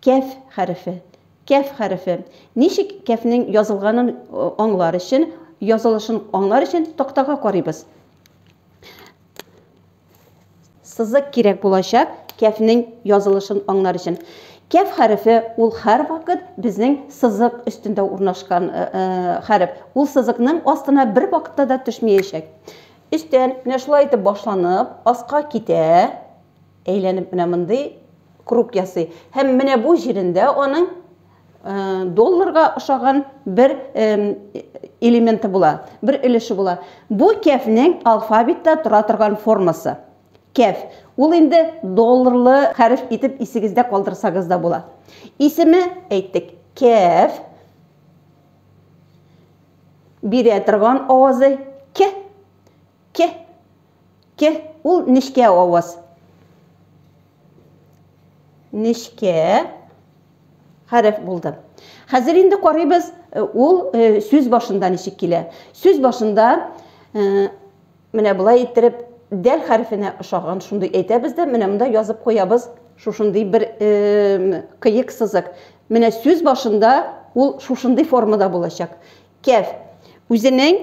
Кәф хәрефе. Кәф хәрефе. Ничек кәфнең язылганын аңлар өчен, язылышын аңлар өчен тактага карыйбыз. Сызык кирәк булачак кәфнең язылышын аңлар өчен. Кәф хәрефе ул һәрвакыт безнең сызык өстендә урнашкан э, э, хәреф. Ул сызыкның астына бер вакытта да төшмәячәк. Өстән менә шулай итеп башланып, аска китә. Әйләнеп менә мондый круг ясый. Һәм менә бу җирендә аның долларга ошаган бер элементы була, бер өлеше була. Бу кәфнең алфавитта тора торган формасы. Кәф. Ул инде долларлы хәреф итеп исегездә калдырсагыз да була. Исеме әйттек. Кәф. Бирә торган авазы к. К. К. Ул нечкә аваз. Нечкә хәреф булды. Хәзер инде карыйбыз, э, ул э, сүз башында ничек килә. Сүз башында э, менә болай иттереп дәл хәрефенә ошаган шундый әйтәбез дә, менә монда язып куябыз шушындый бер кыек сызык. Менә сүз башында ул шушындый формада булачак. Кәф. Үзенең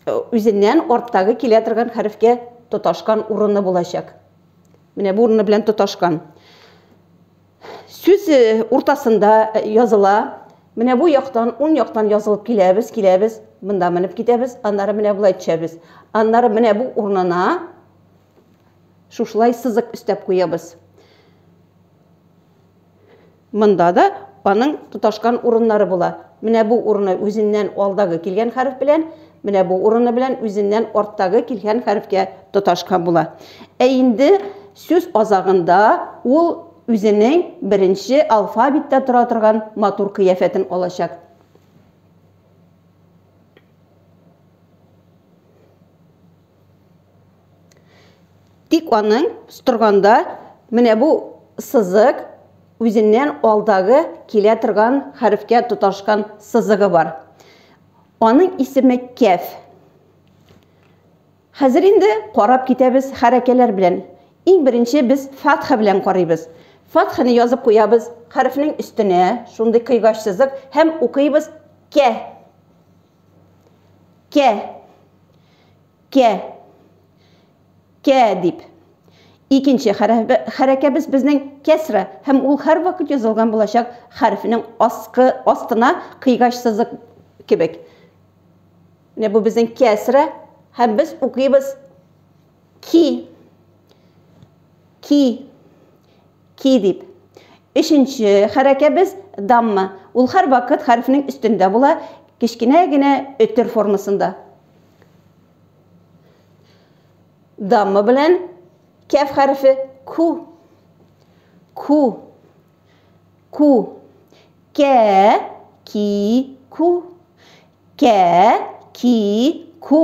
үзеннән арттагы килә торган хәрефкә тоташкан урыны булачак. Менә бу урыны белән тоташкан. Сүз э, уртасында э, языла. Менә бу яктан, ун яктан язылып киләбез, киләбез, монда менеп китәбез, аннары менә болай төшәбез. Аннары менә бу урынына шушылай сызык өстәп куябыз. Монда да аның тоташкан урыннары була. Менә бу урыны үзеннән алдагы килгән хәреф белән, менә бу урыны белән үзеннән арттагы килгән хәрефкә тоташкан була. Ә инде сүз азагында ул үзенең беренче алфавиттә тора торган матур кыяфәтен алачак. Тик аның сторганда менә бу сызык үзеннән алдагы килә торган хәрефкә тоташкан сызыгы бар. Аның исеме кәф. Хәзер инде карап китәбез хәрәкәләр белән. Иң беренче без фатха белән карыйбыз. Фатханы язып куябыз хәрефнең өстенә, шундый кыйгач сызык һәм укыйбыз кә. Кә. Кә. Кә дип. Икенче хәрәкәбез безнең кәсра һәм ул һәрвакыт язылган булачак хәрефнең аскы астына кыйгач сызык кебек. Менә бу безнең кәсра һәм без укыйбыз ки. Ки. Ки дип. Өченче хәрәкәбез, дамма. Ул һәрвакыт хәрефнең өстендә була, кечкенә генә өтер формасында. Дамма белән кәф хәрефе ку. Ку. Ку. Кә, ки, ку. Кә, ки, ку.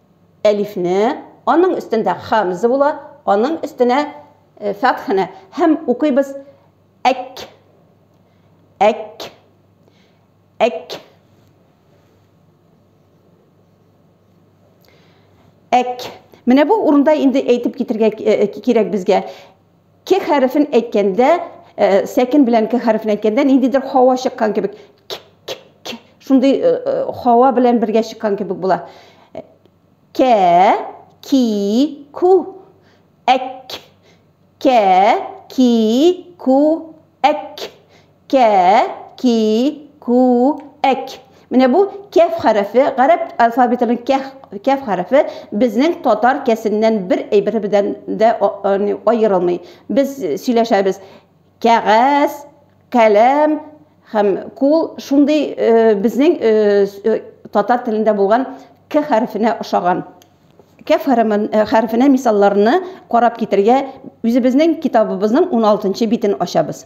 Әлифне, аның өстендә хәмзә була, аның өстенә фәтхәне һәм укыйбыз әк, әк, әк. Әк. Менә бу урында инде әйтеп китергә кирәк безгә. К хәрефен әйткәндә, э, сәкен белән к хәрефен әйткәндә ниндидер хава чыккан кебек. К, к, к. Шундый э, э, хава белән бергә чыккан кебек була. К, ки, ку. Әк. К, ки, ку. Әк. Кә, ки, ку, әк. Менә бу кәф хәрефе, гарәп алфавитының кәх, кәф хәрефе безнең татар кәсеннән бер әйбере белән дә аерылмый. Без сөйләшәбез, кәгазь, каләм һәм кул шундый безнең татар телендә булган к хәрефенә ошаган. Кәф хәрефенә мисалларны карап китергә үзебезнең китабыбызның 16 нчы битен ачабыз.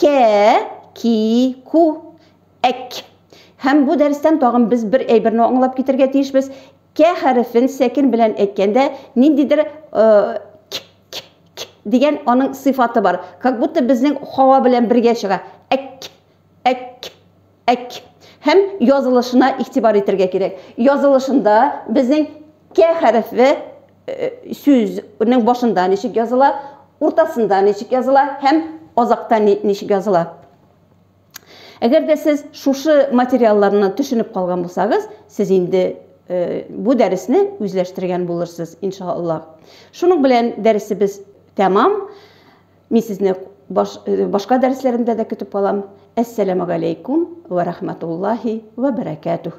Кә, ки, ку, әк. Һәм бу дәрестән тагын без бер әйберне аңлап китергә тиешбез. Кә хәрефен сәкен белән әйткәндә, ниндидер к, к, к дигән аның сыйфаты бар. Как будто безнең һава белән бергә чыга. Әк, әк. Әк. Һәм язылышына игътибар итергә кирәк. Язылышында безнең кә хәрефе э, сүзнең башында ничек языла, уртасында ничек языла һәм азакта ничек языла. Әгәр дә сез шушы материалларны төшенеп калган булсагыз, сез инде э, бу дәресне үзләштергән булырсыз, иншаллаһ. Шуның белән дәресебез тәмам. Мин сезне баш, э, башка дәресләремдә дә көтеп калам. Әссәламү галәйкүм вә рахматуллаһи вә бәрәкәтүһ.